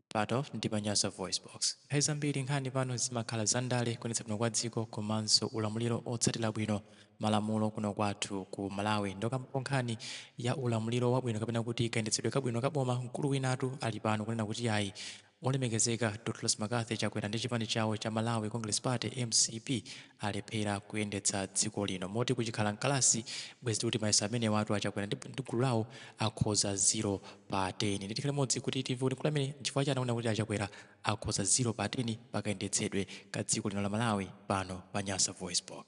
Part of ndi pa Nyasa VoiceBox. Nthawi zambiri nkhani pano zimakhala za ndale, kuyendetsedwa bwino kwa dziko komanso ulamuliro otsatira bwino malamulo kuno kwathu ku Malawi. Ndipokambapo nkhani ya ulamuliro wabwino kapena kuti kayendetsedwe kabwino ka boma mkulu winatu ali pano kunena kuti yayi olemekezeka Dr Lazarus Mccarthy Chakwera ndi chipani chawo cha Malawi Congress Party, mcp, alephera kuyendetsa dziko lino. Moti kuchikhala mkalasi bwezi tikuti mayeso amenewatu a Chakwera ndi gulu lawo akhoza 0. pa 10 ndi tikhale limodzi kuti timve kuti mkulu ameneyu nchifukwa chani akunena kuti achakwera akhoza 0 pa 10 pakayendetsedwe ka dziko lino la malawi pano pa nyasa voice box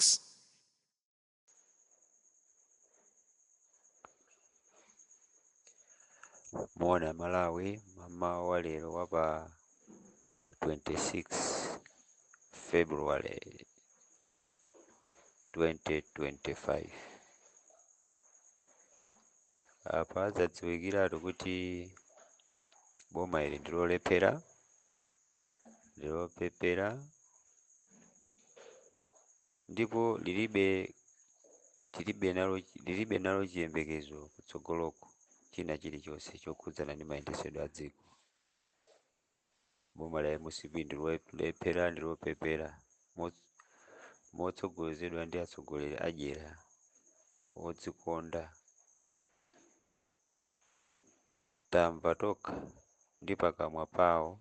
muona a malawi mmamawa wa lero wa pa 26 february 2025 apa zadziwikiratu kuti boma ili ndilolephera ndilopepera ndipo lilibe tilibe nalo lilibe nalo chiyembekezo kutsogoloko china chilichonse chokhudzana ndi mayendesedwe a dziko Boma la mcp ndilolephera ndilopepera motsogozedwa ndi atsogoleri adyera odzikonda tamva tokha ndi pakamwa pawo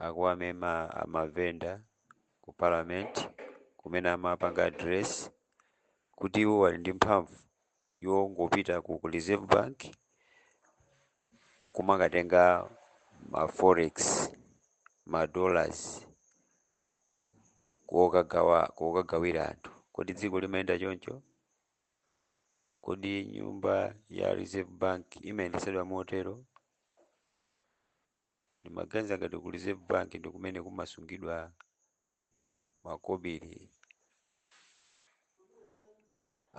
akuwanena amavenda ku parliament kumene amapanga address kuti iwo ali ndi mphamvu yongopita ku reserve bank kumakatenga ma forex ma dollars kokagawa kokagawira anthu kodi dziko limayenda choncho kodi nyumba ya reserve bank imayendetsedwa motero timaganiza ngati ku reserve bank ndi kumene kumasungidwa makobiri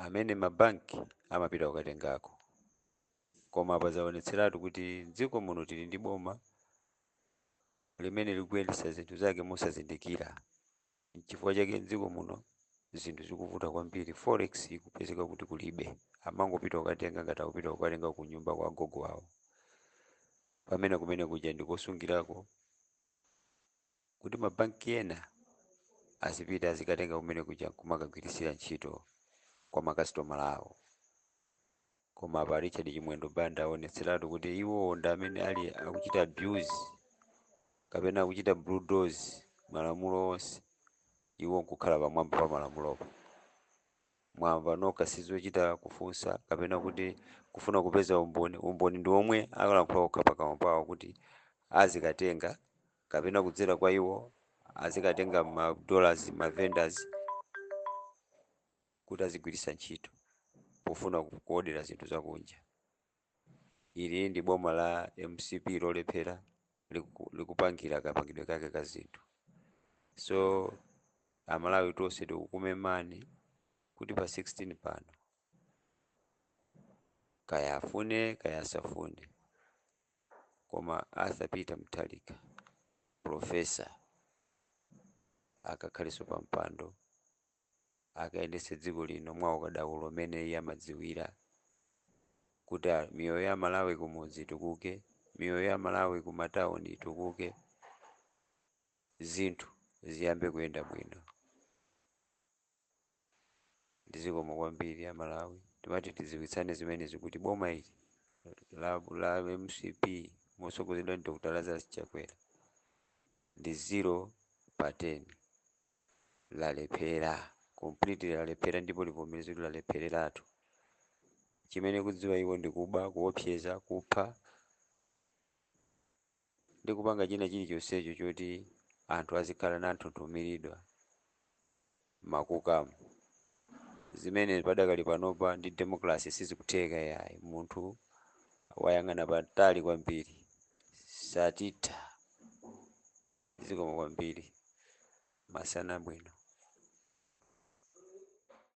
amene mabanki amapita kukatengako. Koma apa zaonetseratu kuti m'dziko muno tili ndi boma limene likuyendetsa zinthu zake mosazindikira. N'chifukwa chake m'dziko muno zinthu zikuvuta kwambiri, forex ikupezeka kuti kulibe, amangopita kukatenga ngati akupita kukatenga ku nyumba kwa agogo awo, pamene kumene kuja ndi kosungirako kuti ma bank ena azipita azikatenga kumene kuja nkumakagwiritsa ntchito kwa ma customer awo. Koma apa Richard Chimwendo Banda aonetseratu kuti iwowo ndi amene akuchita abuse kapena akuchita bulldoze malamulo onse iwo nkukhala pamwamba pa malamulopo. Mwamva nokha sizochita kufunsa kapena kuti kufuna kupeza umboni, umboni ndi omwe akalankhula okha pakamwa pawo kuti azikatenga kapena kudzera kwa iwo azikatenga ma dollars ma vendors kuti azigwiritsa ntchito pofuna ku- kuodera zinthu zakunja ili ndi boma la mcp lolephera liku- likupangira kapangidwe kake ka zinthu so amalawi tonse tikukumemani kuti pa 16 pano kaya afune kaya asafune Koma Arthur Peter Mutharika, Professor akakhalenso pa mpando, akayendetse dziko lino mwa ukadaulo umene iye amadziwira, kuti miyoyo ya Amalawi kumudzi itukuke, miyoyo ya Amalawi kumatauni itukuke, zinthu ziyambe kuyenda bwino. ndi zikomo kwambiri a Malawi timati tidziwitsane zimenezi kuti boma ili la la mcp motsogozedwa ndi Dr Lazarus Chakwera ndi 0 pa 10 lalephera completely lalephera ndipo livomereze kuti lalephereratu chimene akudziwa iwo ndi kuba kuopseza kupha ndi kupanga china chilichonsecho choti anthu azikhala na nthunthumiridwa makukamu zimene padakali panopa ndi democracy sizikutheka yayi munthu wayang'ana patali kwambiri satitha zikomo kwambiri masana bwino